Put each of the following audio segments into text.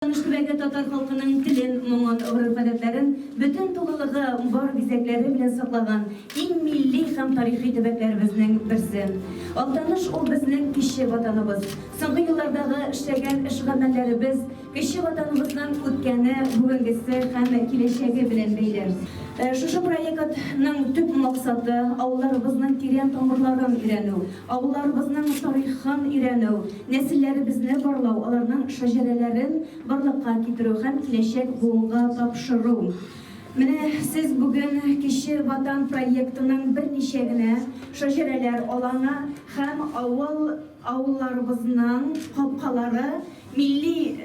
Таныш төбәге татар халкының телен, моңын, гореф-гадәтләрен бөтен тулылыгы, бар бизәкләре белән саклаган иң милли һәм тарихи төбәкләребезнең берсе. Актаныш ул безнең кече Ватаныбыз. Соңгы еллардагы эшләгән эш-гамәлләребез кече Ватаныбызның үткәне, бүгенгесе һәм киләчәге белән бәйле. Шушы проектның төп максаты, авылларыбызның тирән тамырларын өйрәнү, авылларыбызның тарихын өйрәнү, Нәселләребезне барлау, аларның шәҗәрәләрен барлыкка китерү һәм киләчәк буынга тапшыру. Менә сез бүген Кече Ватан проектының берничә генә шәҗәрәләр алаңы һәм авыл, авылларыбызның капкалары, милли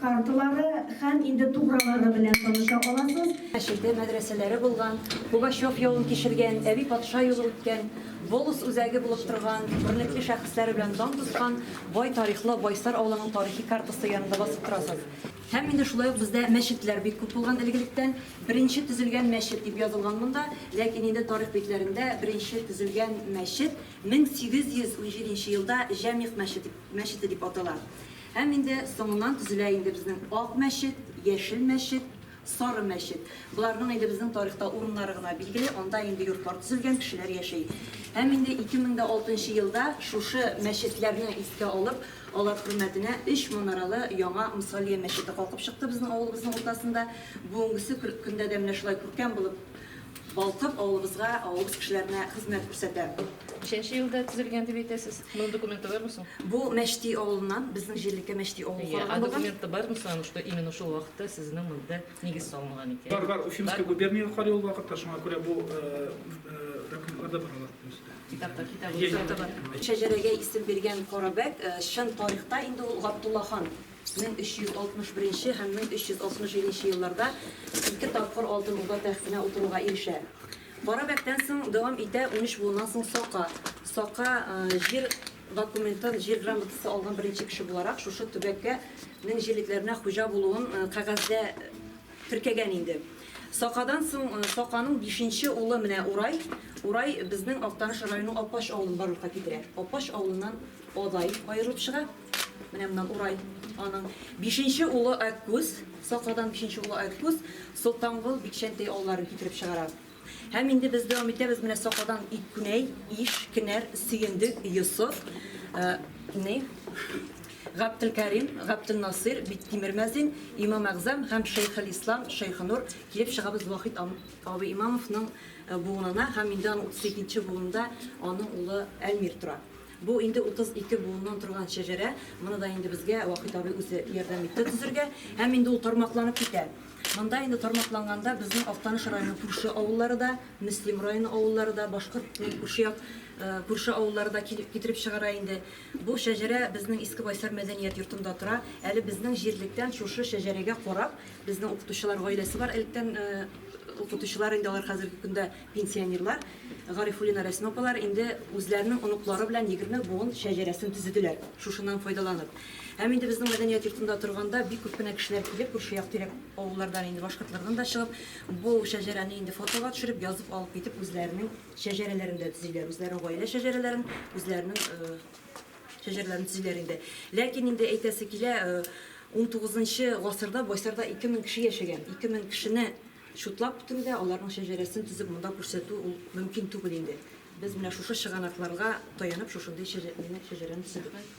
карталары һәм инде тугралары белән таныша аласыз. Мәчете, мәдрәсәләре булган, Пугачев явын кичергән, Әби патша юлы үткән. Волос үзәге булып торган, күренекле шәхесләре белән дан тоткан бай тарихлы Байсар авылының тарихи картасы янында басып торасыз. Һәм инде шулай ук бездә мәчетләр бик күп булган элегелектән. Беренче төзелгән мәчет дип язылган монда, ләкин инде тарих битләрендә беренче төзелгән мәчет 1817 елда Җәмигъ мәчете дип атала. Һәм инде соңыннан төзелә инде безнең Ак мәчет, Яшел мәчет, Сары мәчет. Боларның инде безнең тарихта урыннары гына билгеле, анда инде йортлар төзелгән, кешеләр яши. Һәм инде 2006 нчы елда шушы мәчетләрне искә алып, алар хөрмәтенә өч манаралы яңа Мсалия мәчете калкып чыкты безнең авылыбызның уртасында. Бүгенгесе көндә дә менә шулай күркәм булып Балкып, авылыбызга, авылыбыз кешеләренә хезмәт күрсәтәм. Ничәнче елда төзелгән дип әйтәсез? Моның документы бармы соң? Бу Мәчти авылыннан, безнең җирлеккә Мәчти авылы Әйе, а документы бармы соң, что именно шул вакытта сезнең монда нигез салынган икән? Бар, бар, Уфимская губерния карый ул вакытта, шуңа күрә бу документларда бар алар төсе. Китапта, китап. Шәҗәрәгә исем биргән Карабәк, чын тарихта инде ул Габдулла хан. 1361 һәм 1367 елларда ике тапкыр Алтын Урда тәхтенә утыруга ирешә. Кара бәктән соң дәвам итә 13 буыннан соң Сока. Сока җир документын, җир грамотасы алган беренче кеше буларак шушы төбәккә нең җирлекләренә хуҗа булуын кәгазьдә теркәгән инде. Сакадан соң Саканың бишенче улы менә Урай. Урай безнең Актаныш районының Апач авылын барлыкка китерә. Апач авылыннан Адай аерылып чыга. Менә моннан урай аның бишенче улы Аккүз, Сакадан бишенче улы Аккүз, Солтангол, Бикчәнтәй авылларын китереп чыгара. Һәм инде без дәвам итәбез, менә Сакадан Иккүнәй, Иш, Кенәр, Сөендек, Йосыф, э, ни, Гаптелкәрим, Гаптелнасыйр, Биктимер Мәзин, Имам Әгъзам һәм Шәйхел Ислам, Шәйхенур килеп чыгабыз Вахит ам- абый Имамовның э, буынына һәм инде аның 32 нче буынында аның улы Әлмир тора. Бу инде 32 буыннан торган шәҗәрә. Моны да инде безгә Вахит абый үзе ярдәм итте төзергә. Һәм инде ул тармакланып китә. Монда инде тармакланганда безнең Актаныш районының күрше авыллары да, Мөслим районы авыллары да, башкорт күрше як күрше авыллары да килеп китереп чыгара инде. Бу шәҗәрә безнең Иске Байсар мәдәният йортында тора. Әле безнең җирлектән шушы шәҗәрәгә карап, безнең укытучылар гаиләсе бар. Электән укытучылар инде алар хәзерге көндә Пенсионерлар Гарифуллина Рәсимә апалар инде үзләренең оныклары белән егерме буын шәҗәрәсен төзеделәр, шушыннан файдаланып. Һәм инде безнең мәдәният йортында торганда бик күп кенә кешеләр килеп, күрше як-тирәк авыллардан инде Башкортлардан да чыгып, бу шәҗәрәне инде фотога төшереп, язып алып китеп, үзләренең шәҗәрәләрен дә төзиләр, үзләренең гаилә шәҗәрәләрен, үзләренең шәҗәрәләрен төзиләр инде. Ләкин инде әйтәсе килә, унтугызынчы гасырда Байсарда ике мең кеше яшәгән, ике мең кешене Чутлап бетерү дә, аларның шәҗәрәсен тезеп монда күрсәтү ул мөмкин түгел инде. Без менә шушы чыганакларга таянып шушындый шәҗәрәне төзедек.